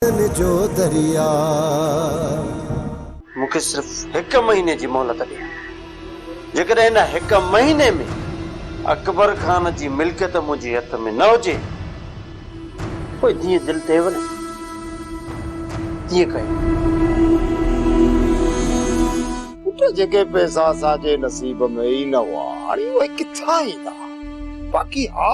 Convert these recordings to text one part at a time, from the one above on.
ساجن جو درياء. مون کي صرف هڪ مهيني جي مهلت ڏي. جيڪڏهن ان هڪ مهيني ۾ اڪبر خان جي ملڪيت منهنجي هٿ ۾ نه هجي، پوء جيئن دل ٿئيو نه، تيئن ڪيو. پٽ، جيڪي پئسا اسان جي نصيب ۾ ئي نه هئا، هاڻي اهي ڪٿان ايندا؟ باقي ها!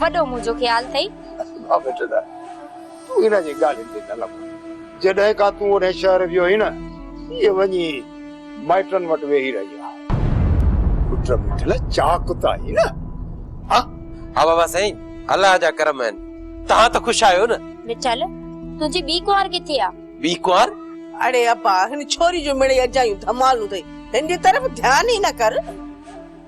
وڏو منهنجو خيال ٿئي. آ بيٽي لاء تون هن جي ڳالهين تي نه لڳ. جڏهن کان تون هن شهر ويو آهين نه هيء وڃي مائٽن وٽ ويهي رهي آهي. پٽ مٺ لاء چاق ته آهين نه؟ ها ها بابا سائين الله جا ڪرم آهن توهان ته خوش آهيو نه. مٺل تنهنجي ٻي ڪنوار ڪٿي آ؟ ٻي ڪنوار؟ اڙي ابا هن ڇوري جون مڙئي اجايون ڌمالون اٿئي هن جي طرف ڌيان ئي نه ڪر.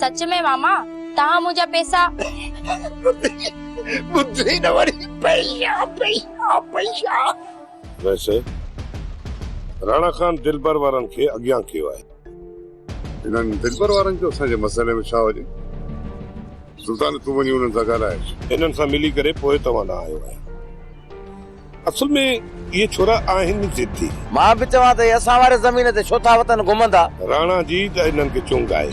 سچ ۾ ماما توهان منهنجا پيسا. ٻڌي نه وري پئيشا پئيشا پئيشا. ويسي راڻا خان دلبر وارن کي اڳيان ڪيو آهي. انهن دلبر وارن جو اسان جي مسئلي ۾ ڇا وڃي. سلطان تون وڃي انهن سان ڳالهائينس. انهن سان ملي ڪري پوء توهان ڏانهن آيو آهيان. اصل ۾ اهي ڇورا آهن ضدي. مان به چوان ته اهي اسان واري زمين تي ڇو ٿا وتن گهمندا. راڻا جي ته انهن کي چونگ آهي.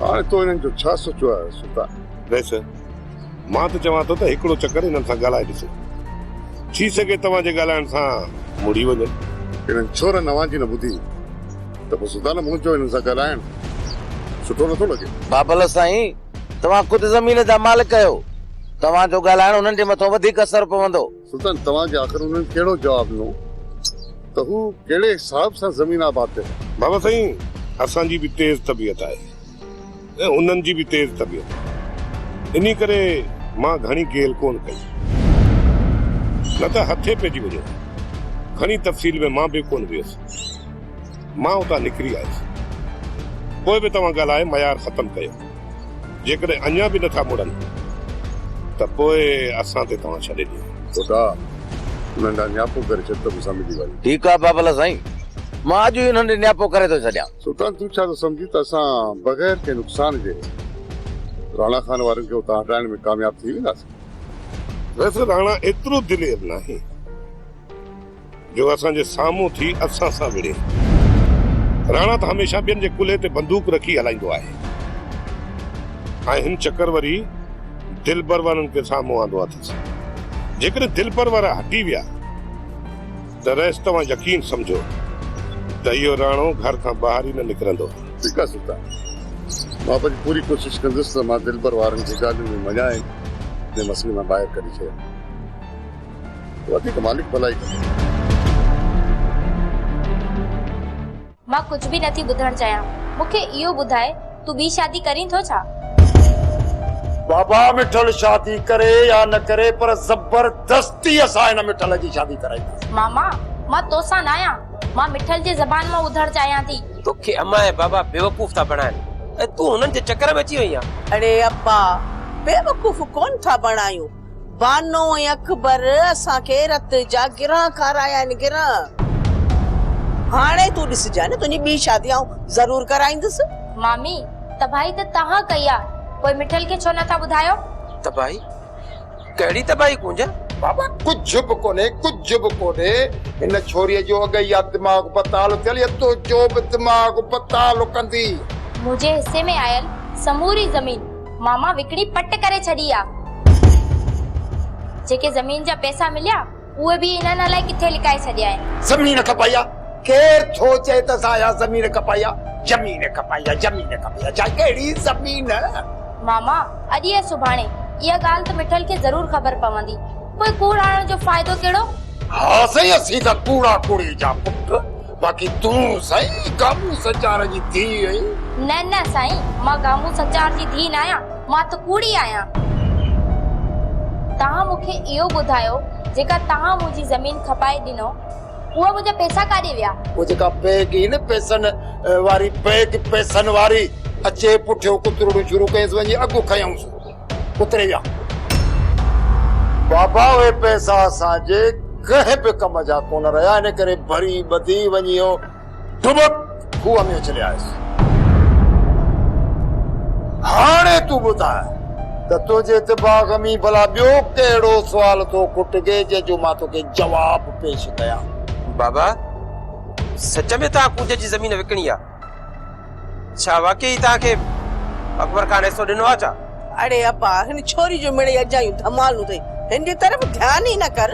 هاڻي تو انهن جو ڇا سوچيو آهي سلطان. ويس، مان ته چوان ٿو ته هڪڙو چڪر انهن سان ڳالهائي ڏسو. ٿي سگهي توهان جي ڳالهائڻ سان مڙي وڃن. انهن ڇورن اوهان جي نه ٻڌي ته پوء سلطان مون چيو انهن سان ڳالهائڻ سٺو نٿو لڳي. بابل سائين! توهان خود زمين جا مالڪ آهيو، توهان جو ڳالهائڻ انهن جي مٿان وڌيڪ اثر پوندو. سلطان، توهان کي آخر انهن ڪهڙو جواب ڏنو ته هو ڪهڙي حساب سان زمين آباد ڪري؟ بابا سائين، اسان جي به تيز طبيعت آهي ۽ انهن جي به تيز طبيعت آهي، انهي ڪري مان گهڻي گيل ڪونه ڪئي آهي، نه ته هٿي پئجي وڃو ها. گهڻي تفصيل ۾ مان به ڪونه ويس. مان اتان نڪري آيس. پوء به توهان ڳالهائي معيار ختم ڪيو. جيڪڏهن اڃا به نٿا مڙن ته پوء اسان تي توهان ڇڏي ڏيو. خدا انهن ڏانهن نياپو ڪري ڇڏ ته مون سان ملي وڃ. ٺيڪ آهي بابل سائين، مان اڄ ئي انهن ڏي نياپو ڪري ٿو ڇڏيان. سلطان تون ڇا ٿو سمجهين ته اسان بغير ڪنهن نقصان جي راڻا خان وارن کي اتان هٽائڻ ۾ ڪامياب ٿي وينداسين؟ ويسي راڻا ايترو دلير ناهي. جو اسان جي سامهون ٿي اسان سان وڙهي. راڻا ته هميشه ٻين جي ڪلهي تي بندوق رکي هلائيندو آهي ۽ هن چڪر وري دلپرورن کي سامهون آندو اٿس. جيڪڏهن دلپرور هٽي ويا ته رئيس توهان يقين سمجهو ته اهو راڻو گهر کان ٻاهر ئي نه نڪرندو. ٺيڪ آهي سلطان. مان پنهنجي پوري ڪوشش ڪندس ته مان دلپروارن کي ڳالهيون ۾ مڃائي هن مسئلي مان ٻاهر ڪڍي ڇڏيان. وڌيڪ مالڪ ڀلائي ڪندو. مان ڪجهه به نٿي ٻڌڻ چاهيان مون کي اهو ٻڌاء تون ٻي شادي ڪرين ٿو ڇا؟ بابا مٺل شادي ڪري يا نه ڪري پر زبردستي اسان هن مٺل جي شادي ڪرائينداسين. ماما مان توسان نه آهيان مان مٺل جي زبان مان ٻڌڻ چاهيان ٿي. توکي امان ۽ بابا بيوقوف ٿا بڻائين ۽ تون هنن جي چڪر ۾ اچي وئين آهين. اڙي ابا بيوقوف ڪونه ٿا بڻايون. بانو ۽ اڪبر اسان کي رت جا گرهه کارايا آهن گرهه. هاڻي تون ڏسجانء نه تنهنجي ٻي شادي آئون ضرور ڪرائيندس. مامي، تباهي ته توهان ڪئي آ، پوء مٺل کي ڇو نٿا ٻڌايو؟ تباهي؟ ڪهڙي تباهي ڪونجا؟ بابا ڪجهه به ڪونهي ڪجهه به ڪونهي هن ڇوري جو اڳ ئي آ دماغ بتال ٿيل يا تنهنجو به دماغ بتال ڪندي. منهنجي حصي ۾ آيل سموري زمين. ماما وڪڻي پٽ ڪري ڇڏي آ. جيڪي زمين جا پئسا مليا اهي به انهن الائي ڪٿي لڪائي ڇڏيائين. زمين کپائي آ ڪير ٿو چئي ته اسان اها زمين کپائي آ. زمين کپائي آ زمين کپائي آ جاء ڪهڙي زمين. ماما اڄ يا سڀاڻي اها ڳالهه ته مٺل کي ضرور خبر پوندي پوء ڪوڙ آڻڻ جو فائدو ڪهڙو. ها سائين اسين ته ڪوڙا ڪوڙي جا پٽ باقي تون سائين گامون سچار جي ڌيء آهين؟ نه نه سائين مان گامون سچار جي ڌيء ناهيان مان ته ڪوڙي آهيان. توهان مون کي اهو ٻڌايو جيڪا توهان منهنجي زمين کپائي ڏنو اها منهنجا پئسا ڪاڏي ويا؟ اهو جيڪا پيگ هئي نه پئسن واري پيگ پئسن واري اچي پٺيو ڪترڙون شروع ڪيس وڃي اڳ کنيائونس. اتري جا بابا اهي پئسا اسان جي ڪنهن به ڪم جا ڪونه رهيا ان ڪري ڀري ٻڌي وڃي اهو ڊٻڪ کوهه ۾ اڇلي آيس. هاڻي تون ٻڌاء ته تنهنجي دماغ ۾ ڀلا ٻيو ڪهڙو سوال ٿو کٽجي جنهن جو مان توکي جواب پيش ڪيان. بابا سچ ۾ ته آ ڪوجهه جي زمين وڪڻي آ. ڇا واقعي توهان کي اڪبر خان حصو ڏنو آهي ڇا؟ اڙي ابا هن ڇوري جون مڙئي اجايون ڌمالون اٿئي هن جي طرف ڌيان ئي نه ڪر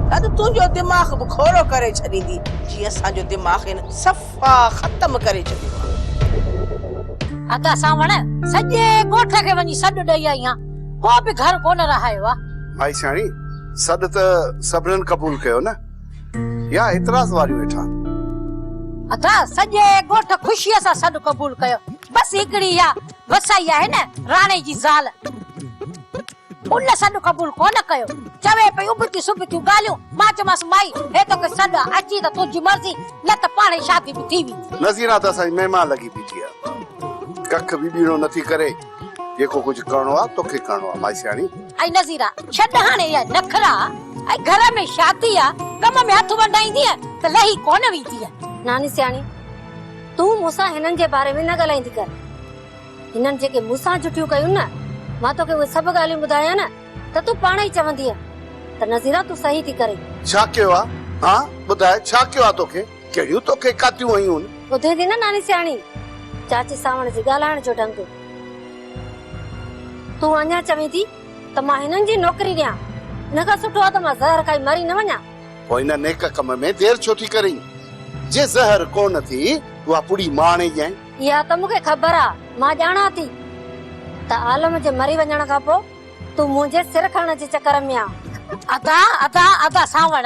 نه ته تنهنجو دماغ به کوڙو ڪري ڇڏيندي جي اسان جو دماغ هن صفا ختم ڪري ڇڏيو ادا سانوڻ سڄي ڳوٺ کي وڃي سڏ ڏئي آئي آهيان ڪو به گهر ڪونه رهايو آهي مائي سياڻي سڏ ته سڀنن قبول ڪيو نه يا اعتراض واريون ويٺا. اٿا سڄي ڳوٺ خوشيء سان سڏ قبول ڪيو. بس هڪڙي اها وسائي آهي نه راڻي جي زال. ان سڏ قبول ڪونه ڪيو. چوي پئي ابتيون سبتيون ڳالهيون. مان چيومانس مائي هي توکي سڏ آ اچين ته تنهنجي مرضي نه ته پاڻ ئي شادي به ٿي ويندي. نذيرا ته اسان جي مهمان لڳي بيٺي آ. ڪک به ٻيڻو نٿي ڪري. جيڪو ڪجهه ڪرڻو آ توکي ڪرڻو آ مائيسياڻي. اي نظيرا ڇڏ هاڻي اهي نخرا اي گهر ۾ شادي آ ڪم ۾ هٿ ونڊائيندينء ته لهي ڪونه ويندينء. ناني سياڻي تون مون سان هنن جي باري ۾ نه ڳالهائيندي ڪر هنن جيڪي مون سان جٺيون ڪيون نه مان توکي اهي سڀ ڳالهيون ٻڌايان نه ته تون پاڻ ئي چوندينء ته نظيرا تون صحيح ٿي ڪرين. ڇا ڪيو آ هان ٻڌاء ڇا ڪيو آ توکي. جهڙيون توکي ڪاتيون هيون. ٻڌين ٿي نه ناني سياڻي، چاچي سانوڻ جي ڳالهائڻ جو ڍنگ. تون اڃا چوين ٿي ته مان هنن جي نوڪري ڏيان، ان کان سٺو آهي ته مان زهر کائي مري نه وڃان. پوء هن نيڪ ڪم ۾ دير ڇو ٿي ڪرين؟ جي زهر ڪونه ٿي اها پڙي مان آڻي ڏيانء. اها ته مون کي خبر آ، مان ڄاڻان ٿي ته عالم جي مري وڃڻ کان پوء تون منهنجي سر کڻڻ جي چڪر ۾ آن. ادا ادا ادا سانوڻ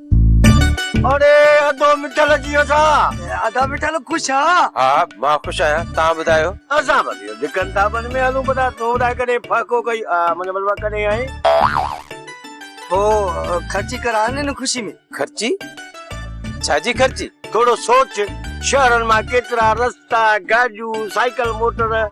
اڙي اڌو مٺل جيئن ٿا. اڌا مٺل خوش آ. ها مان خوش آهيان توهان ٻڌايو. اسان بس اهو ڌڪن ٿاٻن ۾ هلون پتا تون ٻڌاء ڪڏهن ڦاڪو ڪئي آ منهنجو مطلب آ ڪڏهن آئين پو خرچي ڪران هن خوشي ۾. خرچي ڇا جي خرچي. ٿورو سوچ شهرن مان ڪيترا رستا گاڏيون سائيڪل موٽر.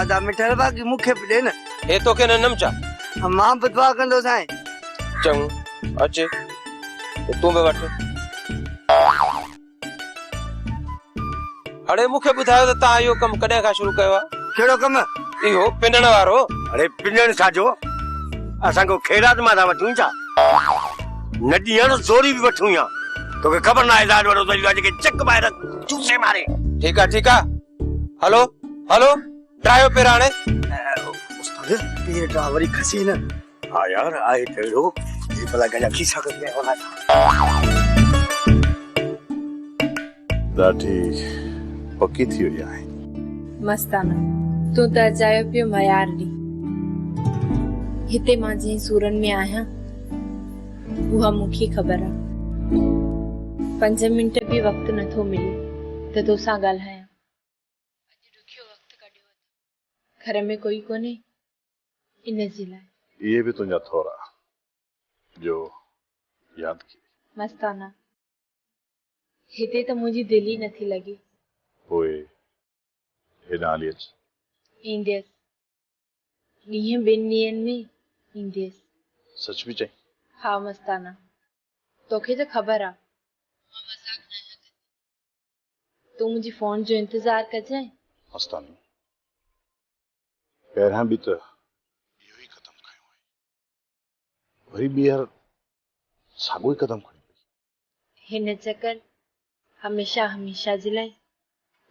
ادا مٺل باقي مون کي به ڏي نه. هي توکي نه ڏنم ڇا؟ مان به دعا ڪندو سائين. چڱو اچ تون به وٺ. هڙي مون کي ٻڌايو ته تان اهو ڪم ڪڏهن کان شروع ڪيو آ؟ ڪهڙو ڪم؟ اهو پنڻ وارو. هڙي پنڻ ڇا جو اسان ڪو خيرات مان ٿا وٺون ڇا؟ نه ڏيڻ زوري به وٺون يا. توکي خبر ناهي لاڏ وڏو ته اهو آ جيڪي چڪ ٻاهر چوسي ماري. ٺيڪ آ ٺيڪ آ. هلو هلو ڊرائيو پير هاڻي استاد پير ڊرا وري کسي نه ها يار آهي ته اهڙو جي بلا گجا کيسا ڪري نه ونا ڏاڍي پڪي ٿي وئي آهي مستانه تون ته اجايو پيو ميار ڏي هتي مان جنهن سورن ۾ آهيان اها مون کي خبر آ. پنج منٽ به وقت نه ٿو ملي ته تو سان ڳالهايان. اڄ ڏکيو وقت ڪڍيو اٿم. گهر ۾ ڪوئي ڪونهي ان جي لاء. اهي به تنهنجا ٿورا جو ياد ڪيئي. مستانه، هتي ته منهنجي دل ئي نٿي لڳي. پوء هيڏانهن هلي اچ. اينديس. ڏينهن ٻن ڏينهن ۾ اينديس. سچ پئي چئين؟ ها مستانه توکي ته خبر آ مان مذاق ناهيان ڪندي. تون منهنجي فون جو انتظار ڪجانء. مستانه پهريان به ته اهو ئي قدم کنيو هئائين. وري ٻيهر ساڳيو ئي قدم کڻي پئي. هن چڪر هميشه هميشه جي لاء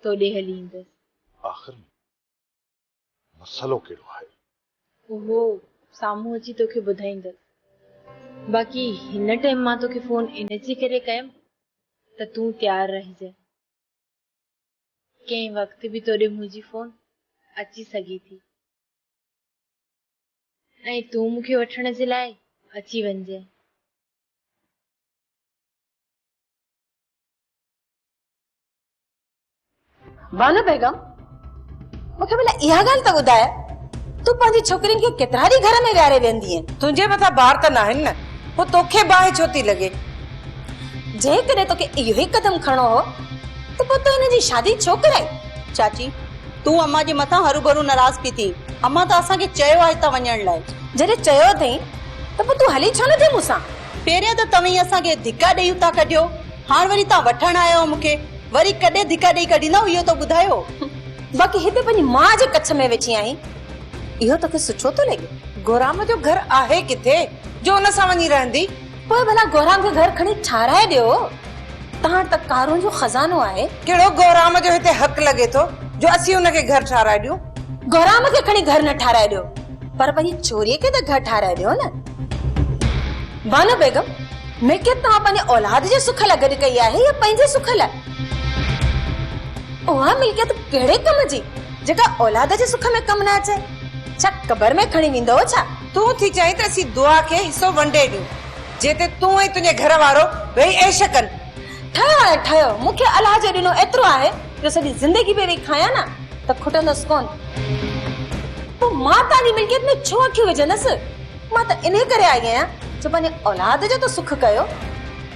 توڏي هلي ايندس. آخر ۾ مسئلو ڪهڙو آهي؟ اهو سامهون اچي توکي ٻڌائيندس. باقي هن ٽيم مان توکي فون ان جي ڪري ڪيم ته تون تيار رهجانء. ڪنهن وقت به تو ڏي منهنجي فون اچي سگهي ٿي ۽ تون مون کي وٺڻ جي لاء اچي وڃجانء. بانو بيگم مون کي ڀلا اها ڳالهه ته ٻڌاء تون پنهنجي ڇوڪرين کي ڪيترا ڏينهن گهر ۾ ويهاري ويهندي آهين تنهنجي مٿان بار ته ناهن نه پوء توکي باهه ڇو ٿي لڳي جيڪڏهن توکي اهو ئي قدم کڻڻو هو ته پوء تو هن جي شادي ڇو ڪرائي چاچي تون اما جي مٿان هرو ڀرو ناراض پي ٿي اما ته اسان کي چيو آهي هتان وڃڻ لاء جڏهن چيو اٿئي ته پوء تون هلي ڇو نٿي مون سان پهريان ته توهين اسان کي ڌڪا ڏيئي اتان ڪڍيو هاڻ وري تان وٺڻ آيا آهيو مون کي وري ڪڏهن ڌڪا ڏئي ڪڍيندا اهو ته ٻڌايو. باقي هتي پنهنجي ماء جي ڪڇ ۾ ويٺي آهين اهو توکي سٺو ٿو لڳي؟ گهرام جو گهر آهي ڪٿي جو ان سان وڃي رهندي؟ پوء ڀلا گهرام کي گهر کڻي ٺاهرائي ڏيو تان وٽ ته ڪارون جو خزانو آهي. ڪهڙو گهرام جو هتي حق لڳي ٿو جو اسين ان کي گهر ٺاهرائي ڏيون؟ گهرام کي کڻي گهر نه ٺاهرائي ڏيو پر پنهنجي ڇوري کي ته گهر ٺاهرائي ڏيو نه. بانو بيگم، ملڪيت توهان پنهنجي اولاد جي سک لاء گڏ ڪئي آهي يا پنهنجي سک لاء؟ اها ملڪيت ڪهڙي ڪم جي، جيڪا اولاد جي سک ۾ ڪم نه اچي؟ ڇا قبر ۾ کڻي ويندؤ ڇا؟ تون ٿي چاهين ته اسين دعا کي حصو ونڊي ڏيون، جنهن تي تون ۽ تنهنجي گهر وارو ويهي عيش ڪن. ٺهه آهي ٺهه، مون کي الله جي ڏنو ايترو آهي جو سڄي زندگي به ويهي کايان نه ته کٽندس ڪونه. پوء مان توهان جي ملڪيت ۾ ڇو اکيون وجهندس؟ مان ته انهي ڪري آئي آهيان جو پنهنجي اولاد جو ته سک ڪيو.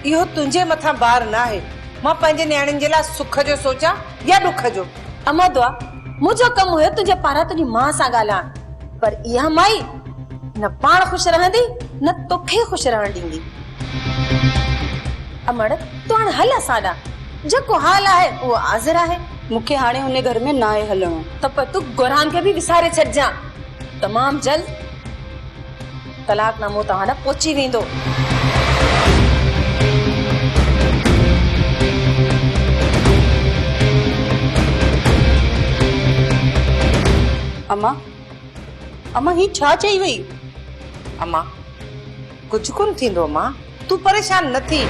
اهو تنهنجي مٿان بار ناهي. مان پنهنجي نياڻين جي لاء سک جو سوچان يا ڏک جو. امان دعا، منهنجو ڪم هيو تنهنجي پاران تنهنجي ماء سان ڳالهائڻ، پر اها مائي. نه پاڻ خوش رهندي نه توکي خوش رهڻ ڏيندي. امڙ تون هاڻي هل اسان ڏانهن. جيڪو حال آهي اهو حاضر آهي. مون کي هاڻي ان گهر ۾ ناهي هلڻو. ته پوء تون گورهان کي به وساري ڇڏجان. تمام جلد طلاق نامو توهان ڏانهن پهچي ويندو. امان! اما هي ڇا چئي وئي؟ اما ڪجهه ڪونه ٿيندو اما تون پريشان نه ٿي.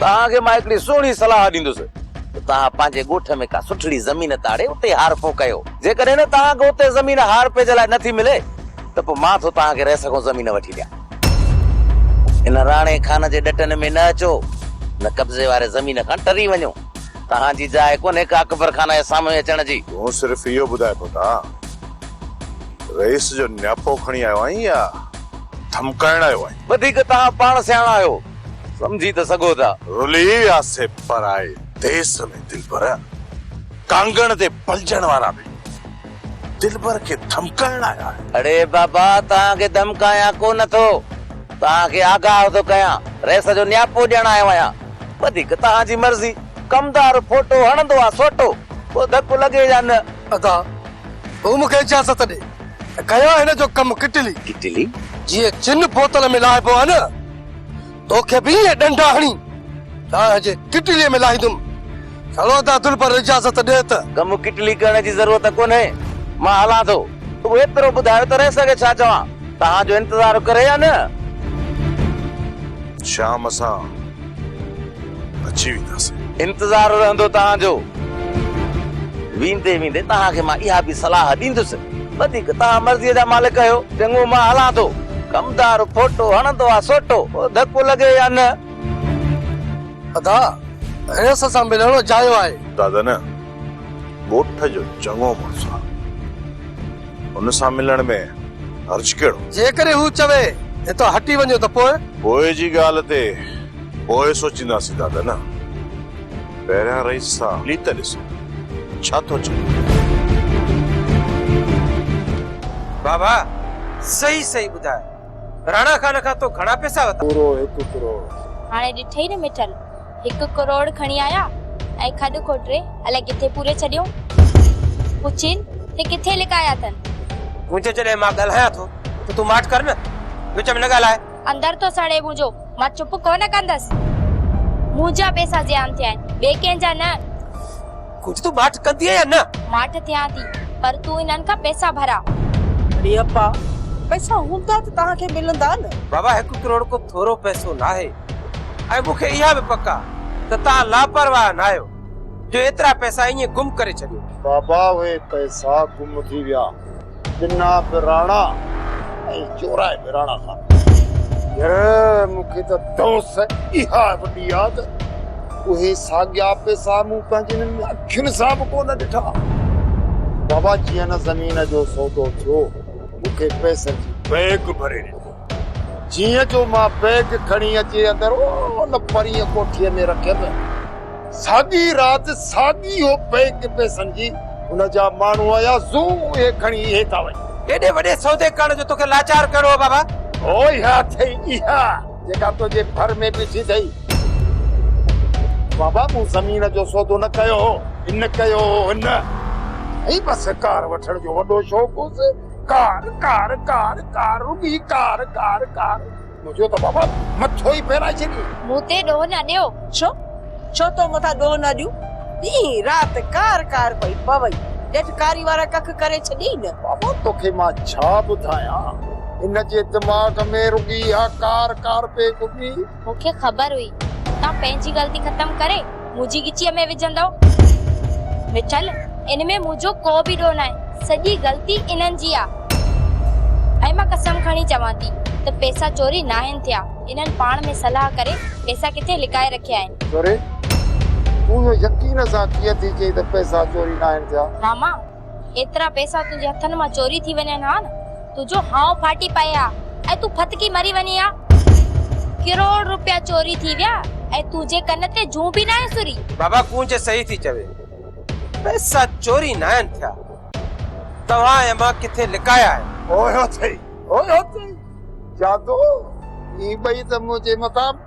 توهان کي مان هڪڙي سهڻي صلاح ڏيندس ته توهان پنهنجي ڳوٺ ۾ ڪا سٺڙي زمين تاڙي اتي هارپو ڪيو. جيڪڏهن نه توهان کي اتي زمين هارپي جي لاء نه ٿي ملي ته پوء مان ٿو توهان کي رهه سڳون زمين وٺي ڏيان. ان راڻي خان جي ڏٽن ۾ نه اچو نه قبضي واري زمين کان ٽري وڃو. توهان جي جاء ڪونهي ڪا اڪبر خان جي سامهون اچڻ جي. تون صرف اهو ٻڌاء پتا رئيس جو نياپو کڻي آيو آهين يا ڌمڪائڻ آيو آهين. وڌيڪ توهان پاڻ سياڻا آهيو سمجهي ته سگهو ٿا. رلي وياسي پرائي ديس ۾ دلبر ڪانگڻ تي پلجڻ وارا به. دلبر کي ڌمڪائڻ لاء آهي. اڙي بابا توهان کي ڌمڪايان ڪو نه ٿو. توهان کي آگاهه ٿو ڪيان. رئيس جو نياپو ڏيڻ آيو آهيان. وڌيڪ توهان جي مرضي. ڪمدار ڦوٽو هڻندو آ سوٽو. پوء ڌڪ لڳي يا نه. ادا هو مون کي اجازت ڏي. ڪيان هن جو ڪم ڪٽلي. ڪٽلي؟ جيئن چن بوتل ۾ لاهبو آ نه. توکي به ائين ڏنڊا هڻي ڏاهه جي ڪٽليء ۾ لاهيندم. سهڻو ادا دل پر اجازت ڏي ته. ڪم ڪٽلي ڪرڻ جي ضرورت ڪونهي، مان هلان ٿو. رڳو ايترو ٻڌايو ته رئيس کي ڇا چوان؟ توهان جو انتظار ڪري يا نه؟ شام سان. اچي وينداسين. انتظار رهندو توهان جو. ويندي ويندي توهان کي مان اها به صلاح ڏيندس. وڌيڪ توهان مرضيء جا مالڪ آهيو. چڱو مان هلان ٿو. ڪمدار ڦوٽو هڻندو آ سوٽو. ڌڪو لڳي يا نه. ادا! هيس سان ملڻ اجايو آهي. دادا نه. ڳوٺ جو چڱو مڙس آ. هن سان ملڻ ۾ حرج ڪهڙو؟ جيڪڏهن هو چوي، هتان هٽي وڃو ته پوء؟ پوء جي ڳالهه تي پوء سوچينداسين دادا نه. پهريان رئيس سان ملي ته ڏسو، ڇا ٿو چئي. بابا، صحيح صحيح ٻڌاء. راڻا خان کان تو گهڻا پئسا ورتا؟ پورو هڪ ڪروڙ. هاڻي ڏٺئي نه مٺل! هڪ ڪروڙ کڻي آيا ۽ کڏ کوٽري الائي ڪٿي پوري ڇڏيو. پڇين ته ڪٿي لڪايا اٿن؟ منهنجو جڏهن مان ڳالهايان ٿو ته تون ماٺ ڪر نه، وچ ۾ نه ڳالهاء. اندر ٿو سڙي منهنجو، مان چپ ڪونه ڪندس. منهنجا پئسا زيان ٿيا آهن، ٻئي ڪنهن جا نه. ڪجهه تون ماٺ ڪندينء يا نه؟ ماٺ ٿيان ٿي، پر تون انهن کان پئسا ڀراء. اڙي ابا، پئسا هوندا ته توهان کي ملندا نه. بابا هڪ ڪروڙ ڪو ٿورو پئسو ناهي. ۽ مون کي اها به پڪ آ ته توهان لاپرواهه ناهيو جو ايترا پئسا ائين گم ڪري ڇڏيو. بابا اهي پئسا گم ٿي ويا. ڏنا به راڻا ۽ چورائي به راڻا خان. ير مون کي ته دونس اها وڏي آ ته اهي ساڳيا پئسا مون پنهنجين انهن اکين سان به ڪو نه ڏٺا. بابا جيئن نه زمين جو سودو ٿيو مون کي پئسن جي بيگ ڀري ڏني. جيئن جو مان بيگ کڻي اچي اندر ان پرينء ڪوٺيء ۾ رکيم، ساڳي رات ساڳي اهو بيگ پئسن جي ان جا ماڻهو آيا، زو اهي کڻي اهي ٿا وڃن. ايڏي وڏي سودي ڪرڻ جو توکي لاچار ڪهڙو هو بابا؟ هو اها اٿئي اها جيڪا تنهنجي ڀر ۾ بيٺي اٿئي. بابا مون زمين جو سودو نه ڪيو هو، هن ڪيو هو هن. ۽ بس ڪار وٺڻ جو وڏو شوق هوس. ڪار ڪار ڪار ڪار رڳي ڪار ڪار ڪار منهنجو ته بابا مٿو ئي ڦيرائي ڇڏيو. مون تي ڏوهه نه ڏيو. ڇو؟ ڇو تو مٿان ڏوهه نه ڏيون؟ ڏينهن رات ڪار ڪار پئي پوي. ڄٺ ڪاري وارا ڪک ڪري ڇڏيئي نه. بابا توکي مان ڇا ٻڌايان. هن جي دماغ ۾ رڳي اها ڪار ڪار پئي گهمي. مون کي خبر هئي توهان پنهنجي غلطي ختم ڪري منهنجي ڳچيء ۾ وجهندؤ. مٺل ان ۾ منهنجو ڪو به ڏوهه ناهي، سڄي غلطي انهن جي آ. ۽ مان قسم کڻي چوان ٿي ته پئسا چوري ناهن ٿيا، انهن پاڻ ۾ صلاح ڪري پئسا ڪٿي لڪائي رکيا آهن. چوري؟ تون اهو يقين سان ڪيئن ٿي چئين ته پئسا چوري ناهن ٿيا؟ راما، ايترا پئسا تنهنجي هٿن مان چوري ٿي وڃن ها نه تنهنجو هانء ڦاٽي پئي ها ۽ تون ڦٿڪي مري وڃين ها. ڪروڙ روپيا چوري ٿي ويا ۽ تنهنجي ڪن تي جون به ناهي سري. بابا ڪونج صحيح ٿي چوي. پئسا چوري ناهن ٿيا. توهان ۽ مان ڪٿي لڪايا آهن. اوهو اٿئي اوهو اٿئي جادو هي ٻئي ته منهنجي مٿان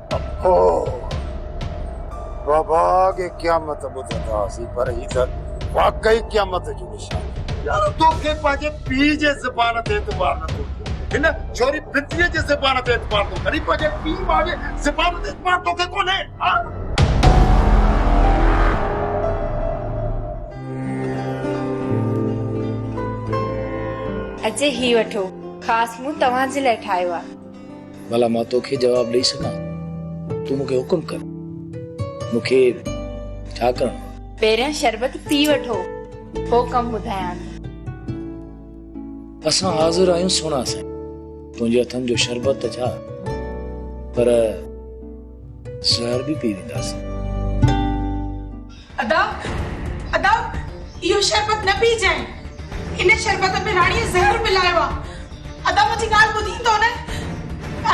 او بابا اڳي قيامت ٻڌندا هئاسين پر هي ته واقعي قيامت جو نشان آهي. يارو توکي پنهنجي پيء جي زبان تي اعتبار نٿو اچي هن ڇوري ڦتريء جي زبان تي اعتبار ٿو ڪرين پنهنجي پيء ماء جي زبان تي اعتبار توکي ڪونهي ها. اڄ هي وٺو خاص مون توهان جي لاء ٺاهيو آهي. ڀلا مان توکي جواب ڏئي سگهان؟ تون مون کي حڪم ڪر. مون کي ڇا ڪرڻو آهي؟ پهريان شربت پي وٺو، پوء ڪم ٻڌايان ٿي. اسان حاضر آهيون سهڻا سائين. تنهنجي هٿن جو شربت ته ڇا، پر زهر به پي وينداسين. ادا! ادا! اهو شربت نه پيجانء. ان شربت ۾ راڻيء زهر ملايو آ. ادا منهنجي ڳالهه ٻڌين ٿو نه.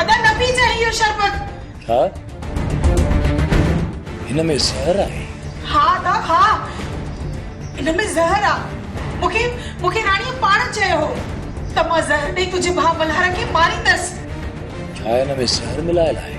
ادا نه پيجانء اهو شربت. ڇا؟ هن ۾ زهر آهي؟ ها ادا ها. هن ۾ زهر آ. مونکي مونکي راڻيء پاڻ چيو هو ته مان زهر ڏئي تنهنجي ڀاء ملهار کي ماريندس. ڇا هن ۾ زهر ملايل آهي؟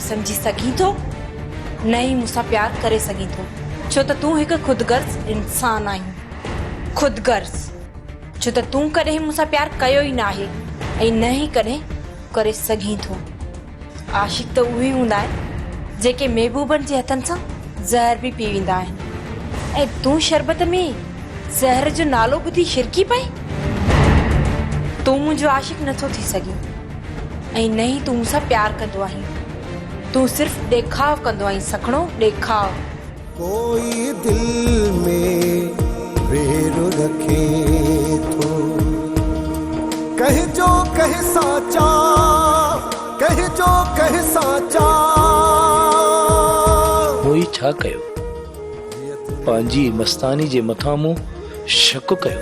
سمجهي سگهين ٿو، نه ئي مون سان پيار ڪري سگهين ٿو، ڇو ته تون هڪ خود غرض انسان آهين. خود غرض، ڇو ته تون ڪڏهن مون سان پيار ڪيو ئي ناهي ۽ نه ئي ڪڏهن ڪري سگهين ٿو. عاشق ته اهي هوندا آهن، جيڪي محبوبن جي هٿن سان زهر به پي ويندا آهن ۽ تون شربت ۾ زهر جو نالو ٻڌي شرڪي پئين؟ تون منهنجو عاشق نه ٿو ٿي سگهين. ۽ نه ئي تون مون سان پيار ڪندو آهين. تون صرف ڏيکاء ڪندو آهين سکڻو ڏيکاء. ڪوئي دل ۾ وير رکي ٿو. ڪنهن جو ڪنهن سان چاهه ڪنهن جو ڪنهن سان چاهه. مون هي ڇا ڪيو. پنهنجي مستاني جي مٿان مون شڪ ڪيو.